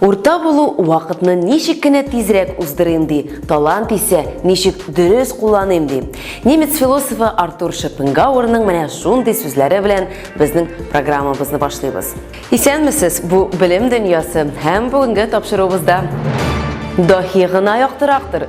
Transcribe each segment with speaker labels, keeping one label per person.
Speaker 1: Урта булу вакытны ничек кенә тизрәк уздырыйм ди, талант исә ничек дөрес кулланыйм ди. Немец философы Артур Шопенгауэрның менә шундый сүзләре белән безнең программабызны башлыйбыз. Исәнмесез, бу белем дөньясы һәм бүгенге тапшыруыбызда. Даһи гына яктырактыр,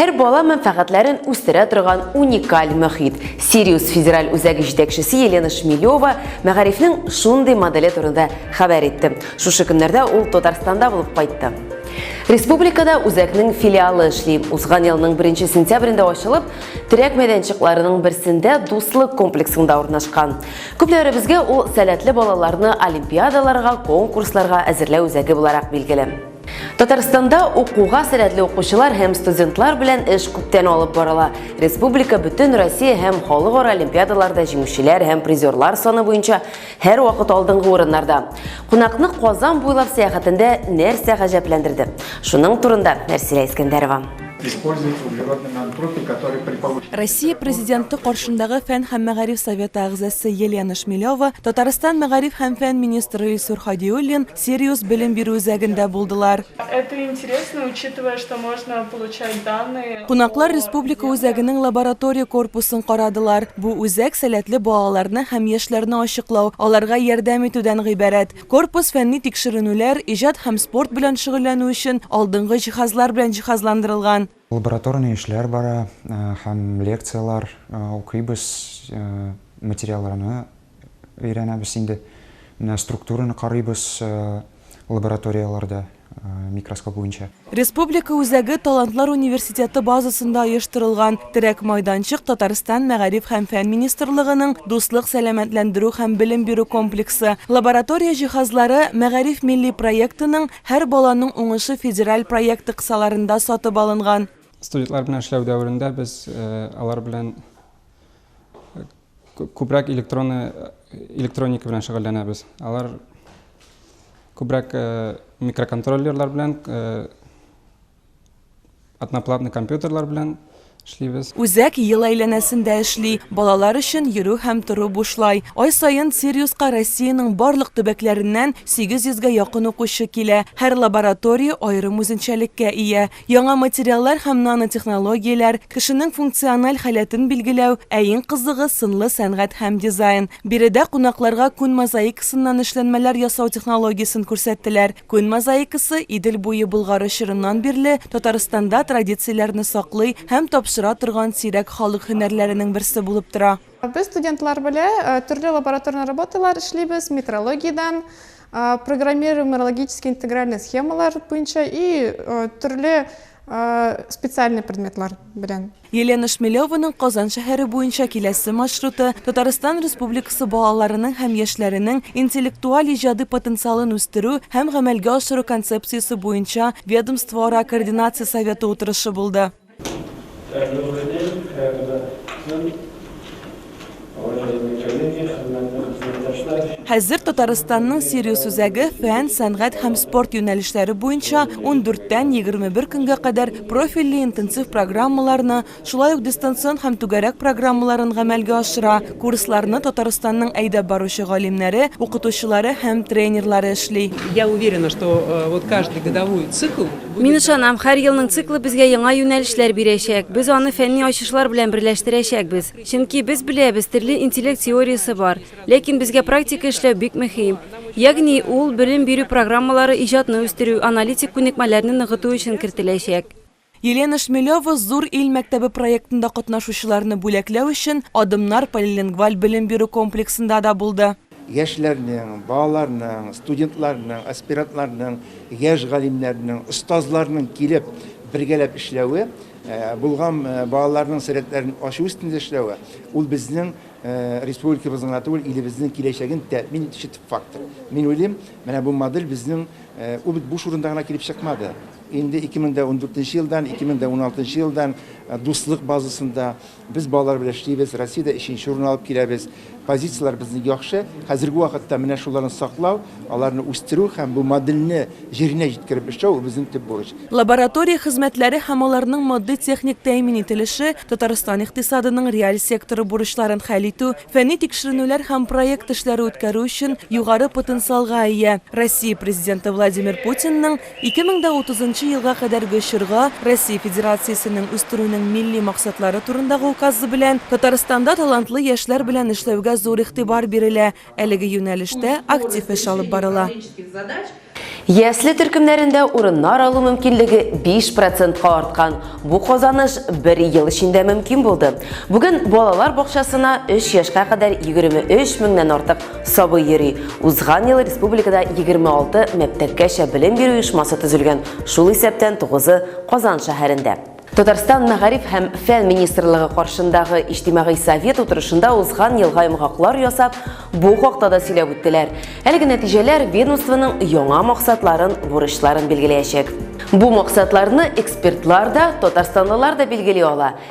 Speaker 1: Һәр бала мәнфәгатьләрен үстерә торган уникаль мөхит. Сириус федераль үзәге җитәкчесе Елена Шмелева мәгарифнең шундый моделе турында хәбәр итте. Шушы көннәрдә ул Татарстанда булып кайтты. Республикада үзәкнең филиалы эшли. Узган елның 1 сентябрендә ачылып, терәк мәйданчыкларының берсендә Дуслык комплексында урнашкан. Күпләребезгә ул сәләтле балаларны олимпиадаларга, конкурсларга әзерләү үзәге буларак билгеле. Татарстанда укуга сәләтле укучылар һәм студентлар белән эш күптән алып барыла. Республика бөтен Россия һәм халыкара олимпиадаларда җиңүчеләр һәм призерлар саны буенча һәр вакыт алдынгы урыннарда. Кунакны Казан буйлап сәяхәтендә нәрсә гаҗәпләндерде? Шуның турында Нәрсилә Искәндәрова. Используется углеродный нанотропик, который
Speaker 2: при повышении... Россия Президенты каршындагы Фән һәм мәгариф советы әгъзасы Елена Шмелева, Татарстан мәгариф һәм фән министры Илсур Хадиуллин, Сириус белем бирү үзәгендә булдылар. Это интересно,
Speaker 3: учитывая, что можно получать данные о. Кунаклар республика
Speaker 2: үзәгенең лаборатория корпусын карадылар. Бу үзәк сәләтле балаларны һәм яшьләрне ачыклау, аларга ярдәм итүдән гыйбарәт. Корпус фәнни тикшеренүләр, иҗат һәм спорт белән шөгыльләнү өчен алдынгы җиһазлар белән җиһазландырылган. Лабораторный эшләр
Speaker 4: бара һәм лекцияләр укыйбыз, материалларны өйрәнәбез инде. Менә структураны карыйбыз лабораторияләрдә микроскоп буенча. Республика үзәге
Speaker 2: Талантлар университеты базасында оештырылган терәк майданчык Татарстан Мәгариф һәм фән министрлыгының Дуслык сәламәтләндерү һәм белем бирү комплексы лаборатория җиһазлары Мәгариф милли проектының Һәр баланың уңышы федераль проекты кысаларында сатып алынган. Студентлар белән эшләү
Speaker 5: дәверендә без алар белән күбрәк электронны электроника белән шөгыльләнәбез. Алар күбрәк микроконтроллерлар белән Одноплатный компьютерлар белән эшлибез. Үзәк ел
Speaker 2: әйләнәсендә эшли, балалар өчен йөрү һәм тору бушлай. Ай саен Сириуска Россиянең барлык төбәкләреннән 800 гә якын укучы килә. Һәр лаборатория аерым үзенчәлеккә ия. Яңа материаллар һәм нанотехнологияләр, кешенең функциональ халәтен билгеләү, ә иң кызыгы, сынлы сәнгать һәм дизайн. Биредә кунакларга күн мозаикасыннан эшләнмәләр ясау технологиясен күрсәттеләр. Күн мозаикасы Идел буе Болгары чорыннан бирле Татарстанда традицияләрне саклый һәм тапшыра торган сирәк халык һөнәрләренең берсе булып тора. Без студентлар
Speaker 6: белә төрле лабораторный работалар эшлибез, метрологиядән, программирую морологический интегральный схемалар буенча и төрле специальный предметлар белән. Елена Шмелеваның
Speaker 2: Казан шәһәре буенча киләсе маршруты Татарстан Республикасы балаларының һәм яшьләренең интеллектуаль-иҗади потенциалын үстерү һәм гамәлгә ашыру концепциясе буенча ведомствоара координация советы утырышы булды. Хәзер Татарстанның сервис үзәге фән, сәнгать һәм спорт юнәлешләре буенча ундүрттән егерме бер көнгә кадәр профильле интенсив программаларны, шулай ук дистанцион һәм түгәрәк программаларын гамәлгә ашыра, курсларны Татарстанның әйдәп баручы галимнәре, укытучылары һәм тренерлары эшли.
Speaker 7: Мин ышанам, һәр
Speaker 8: елның циклы безгә яңа юнәлешләр бирәчәк, без аны фәнни ачышлар белән берләштерәчәкбез. Чөнки без беләбез, төрле интеллект теориясе бар. Ләкин безгә практика эшләү бик мөһим. Ягъни ул белем бирү программалары иҗатны үстерү, аналитик күнекмәләрне ныгыту өчен кертеләчәк. Елена
Speaker 2: Шмелева Зур ил мәктәбе проектында катнашучыларны бүләкләү өчен Адымнар полилингваль белем бирү комплексында да булды. Яшьләрнең,
Speaker 9: балаларның, студентларның, аспирантларның, яшь галимнәрнең, остазларның килеп, бергәләп эшләве, булган балаларның сәләтләрен ачу өстендә эшләве, ул безнең республикабызның гына түгел, илебезнең киләчәген тәэмин итүче төп фактор. Мин уйлыйм, менә бу модель безнең, ул бит буш урында гына килеп чыкмады. Инде 2014 елдан, 2016 елдан Дуслык базасында, Без балалар белән эшлибез, Россиядә өченче урын алып киләбез. Позицияләр безнең яхшы. Хәзерге вакытта менә шуларны саклау, аларны үстерү һәм бу модельне җиренә җиткереп эшләү безнең төп бурыч. Лаборатория хезмәтләре
Speaker 2: һәм аларның матди-техник тәэмин ителеше, Татарстан икътисадының реаль секторы бурычларын хәл итү, фәнни тикшеренүләр һәм проект эшләре үткәрү өчен югары потенциалга ия. Россия Президенты Владимир Путинның Ике мең дә утызынчы елга кадәрге чорга Россия Федерациясенең үстерүнең милли максатлары турындагы Указы белән Татарстанда талантлы яшьләр белән эшләүгә зур игътибар бирелә, әлеге юнәлештә актив эш алып барыла.
Speaker 1: Ясле төркемнәрендә урыннар алу мөмкинлеге биш процентка арткан, бу казаныш бер ел эчендә мөмкин булды. Бүген балалар бакчасына өч яшькә кадәр егерме өч меңнән артык Сабый йөри. Узган ел республикада 26 мәктәпкәчә белем бирү оешмасы төзелгән, шул исәптән тугызы Казан шәһәрендә. Татарстан мәгариф һәм фән министрлыгы каршындагы иҗтимагый совет утырышында узган елга йомгаклар ясап, бу хакта да сөйләп үттеләр. Әлеге нәтиҗәләр ведомствоның яңа максатларын, бурычларын билгеләячәк. Бу максатларны экспертлар да, татарстанлылар да билгели ала.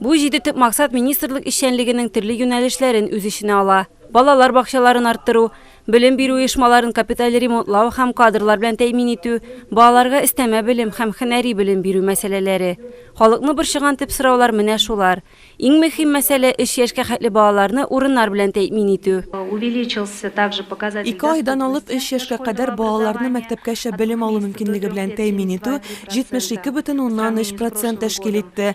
Speaker 8: Бу җиде төп максат министрлык эшчәнлегенең төрле юнәлешләрен үз эченә ала, балалар бакчаларын арттыру, белем бирү оешмаларын капиталь ремонтлау һәм кадрлар белән тәэмин итү, балаларга өстәмә белем һәм һөнәри белем бирү мәсьәләләре. Халыкны борчыган төп сораулар менә шулар. Иң мөһим мәсьәлә, өч яшькә хәтле балаларны урыннар белән тәэмин итү. Увеличился
Speaker 10: также показатель доступности Ике айдан алып өч
Speaker 2: яшькә кадәр балаларны мәктәпкәчә белем алу мөмкинлеге белән тәэмин итү 72,3 процент тәшкил итте.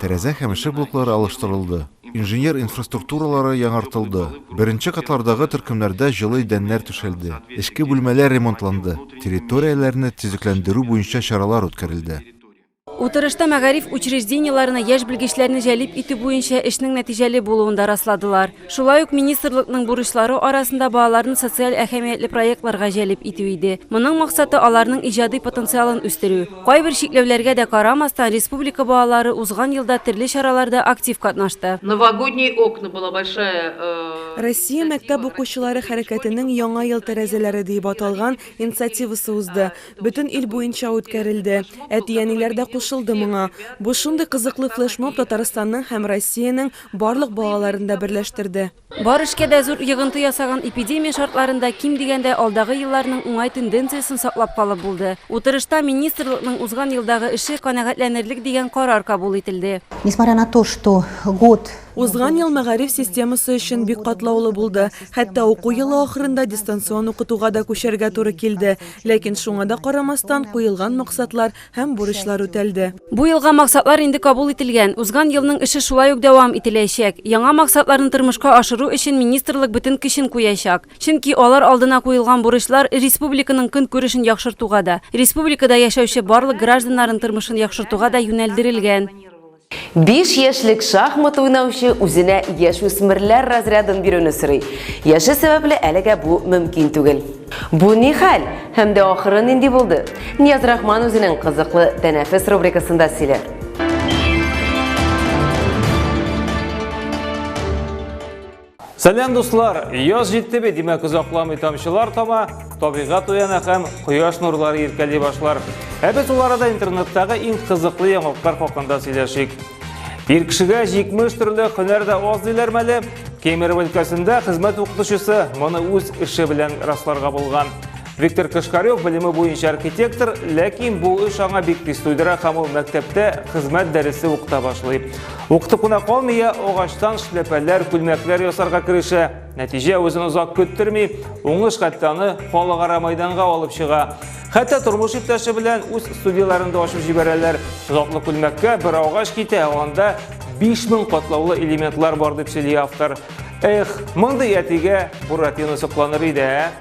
Speaker 11: Тәрәзә һәм ишек блоклары алыштырылды, инженер инфраструктуралары яңартылды, беренче катлардагы төркемнәрдә җылы идәннәр түшәлде, эчке бүлмәләр ремонтланды, территорияләрне төзекләндерү буенча чаралар үткәрелде. Утырышта
Speaker 8: мәгариф учреждениеләренә яшь белгечләрне җәлеп итү буенча эшнең нәтиҗәле булуын да расладылар. Шулай ук министрлыкның бурычлары арасында балаларны социаль әһәмиятле проектларга җәлеп итү иде. Моның максаты, аларның иҗади потенциалын үстерү. Кайбер чикләүләргә дә карамастан, республика балалары узган елда төрле чараларда актив катнашты. Новогодние окна
Speaker 12: была большая. Россия
Speaker 2: мәктәп укучылары хәрәкәтенең Яңа ел тәрәзәләре диеп аталган инициативасы узды. Бөтен ил буенча үткәрелде. Әти-әниләр дә кушылды моңа. Бу шундый кызыклы флешмоб Татарстанның һәм Россиянең Барлык балаларын да берләштерде. Бар эшкә дә зур
Speaker 8: йыгынты ясаган эпидемия шартларында ким дигәндә алдагы елларның уңай тенденциясен саклап калып булды. Утырышта министрлыкның узган елдагы эше канәгатьләнерлек дигән карар кабул ителде. Несмотря на то, что
Speaker 13: год. Узган ел мәгариф
Speaker 2: системасы өчен бик катлаулы булды, хәтта уку елы ахырында дистанцион укытуга да күчәргә туры килде. Ләкин шуңа да карамастан, куелган максатлар Һәм бурычлар үтәлде. Бу елга максатлар
Speaker 8: инде кабул ителгән. Узган елның эше шулай ук дәвам ителәячәк. Яңа максатларны тормышка ашыру өчен министрлык бөтен көчен куячак. Чөнки алар алдына куелган бурычлар республиканың көнкүрешен яхшыртуга да, республикада яшәүче барлык гражданнарын тормышын яхшыртуга да юнәлдерелгән. Биш
Speaker 1: яшьлек шахмат уйнаучы үзенә яшүсмерләр разрядын бирүне сорый. Яше сәбәпле әлегә бу мөмкин түгел. Бу ни хәл? Һәм дә ахыры нинди булды? Нияз Рахман үзенең кызыклы тәнәфес рубрикасында сөйләр.
Speaker 14: Сәләм дуслар! Яз җитте бит, димәк озакламый тамчылар тама, табигат уяна һәм кояш нурлары иркәли башлар. Ә без ул арада интернеттагы иң кызыклы яңалыклар хакында сөйләшик. Ир кешегә 70 төрле һөнәр дә аз диләр мәле. Кемерово өлкәсендә хезмәт укытучысы моны үз эше белән расларга булган. Виктор Кашкарев белеме буенча архитектор, ләкин бу эш аңа бик тиз туйдыра һәм ул мәктәптә хезмәт дәресе укыта башлый. Укыту кына калмый, агачтан шляпәләр, күлмәкләр ясарга керешә. Нәтиҗә үзен озак көттерми, уңыш хәтта аны халыкара майданга алып чыга. Хәтта тормыш иптәше белән үз студияләрен дә ачып җибәрәләр. Затлы күлмәккә бер агач китә, анда 5000 катлаулы элементлар бар дип сөйли автор. Эх, мондый әтигә Буратино сокланыр иде, ә?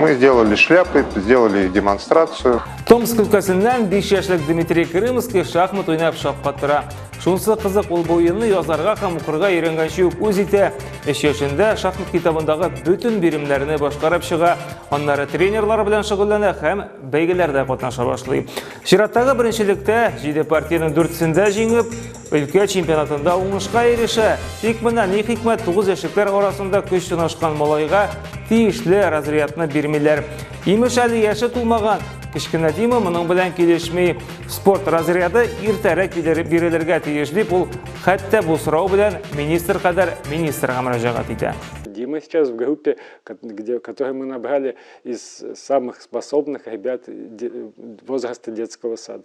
Speaker 15: Мы сделали шляпы, сделали демонстрацию. Томск өлкәсеннән
Speaker 14: 5 яшьлек Дмитрий Крымский шахмат уйнап шаккатыра. Шунсы кызык ул бу уенны язарга һәм укырга өйрәнгәнче үк үз итә. 3 яшендә шахмат китабындагы бөтен биремнәрне башкарып чыга, аннары тренерлар белән шөгыльләнә һәм бәйгеләрдә катнаша башлый. Чираттагы беренчелектә 7 партиянең дүртесендә җиңеп, Өлкә чемпионатында уңышка ирешә. Тик менә ни хикмәт, 9 яшьлекләр арасында көч сынашкан малайга тиешле разрядны бирмиләр. Имеш әле яше тулмаган. Кечкенә Дима моның белән килешми. Спорт разряды иртәрәк бирелергә тиеш дип ул хәтта бу сорау белән министр кадәр министрга мөрәҗәгать итә. Дима сейчас в
Speaker 16: группе, где, которую мы набрали из самых способных ребят возраста детского сада.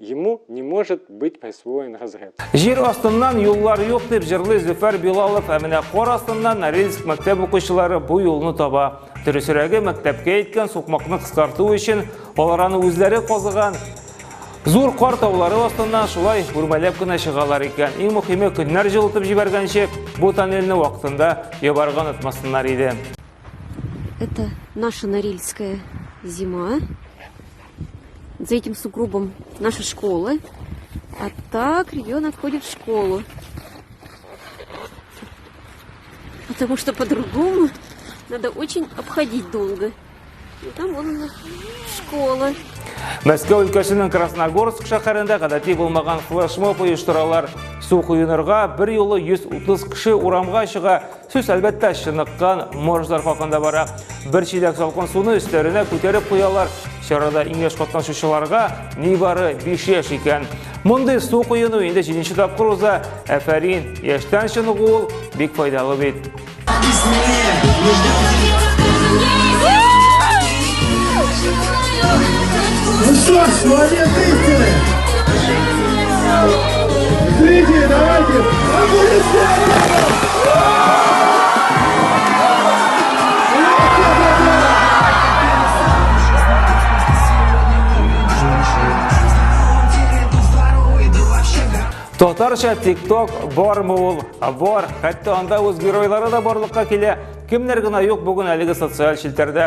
Speaker 16: Ему не может быть присвоен разряд. Җир астыннан
Speaker 14: юллар юк дип җырлый Зөфәр Билалов, ә менә кар астыннан Норильск мәктәп укучылары бу юлны таба. Дөресрәге, мәктәпкә иткән сукмакны кыскарту өчен алар аны үзләре казыган. Зур кар таулары астыннан шулай үрмәләп кенә чыгалар икән. Иң мөһиме, көннәр җылытып җибәргәнче, бу тоннельне вакытында ябарга онытмасыннар иде.
Speaker 17: Это наша Норильская зима. за этим сугробом нашей школы. А так ребенок ходит в школу. Потому что по-другому надо очень обходить долго. И там вон у нас школа. Мәскәү
Speaker 14: өлкәсенең Красногорск шәһәрендә гадәти булмаган флешмоб оештыралар. Су коенырга бер юлы 130 кеше урамга чыга, Сүз әлбәттә чыныккан морждар хакында бара. Бер чиләк салкын суны өстәренә күтәреп куялар. Чарада иң яшь катнашучыларга нибары 5 яшь икән. Мондый су коену инде 7 тапкыр уза. Әфәрин, яшьтән чыныгу ул бик файдалы бит.
Speaker 18: Ну что ж, молодец истины!
Speaker 14: Зрители, давайте аплодисменты! Татарча TikTok бармы ул? Бар. Хәтта анда үз геройлары да барлыкка килә. Кемнәр генә юк бүген әлеге социаль челтәрдә.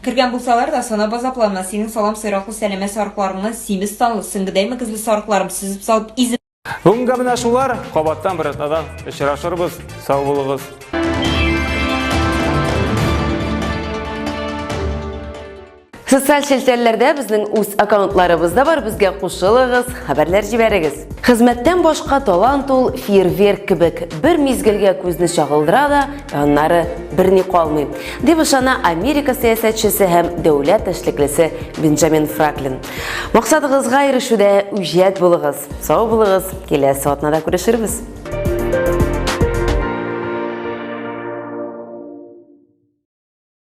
Speaker 19: Кергән булсалар да, санап азаплана, синең салам сыйраклы сәләмә сарыкларыңны, симез танлы, сөңгедәй мөгезле сарыкларым сөзеп салып, изеп. Бүгенгә менә шулар,
Speaker 14: кабаттан бер атнадан очрашырбыз, сау булыгыз.
Speaker 1: Социаль челтәрләрдә безнең үз аккаунтларыбыз да бар, безгә кушылыгыз, хәбәрләр җибәрегез. Хезмәттән башка талант ул фейерверк кебек, бер мизгелгә күзне чагылдыра да, Аннары берни калмый, дип ышана Америка сәясәтчесе һәм дәүләт эшлеклесе Бенджамин Фраклин. Максатыгызга ирешүдә үҗәт булыгыз, сау булыгыз, киләсе атнада күрешербез.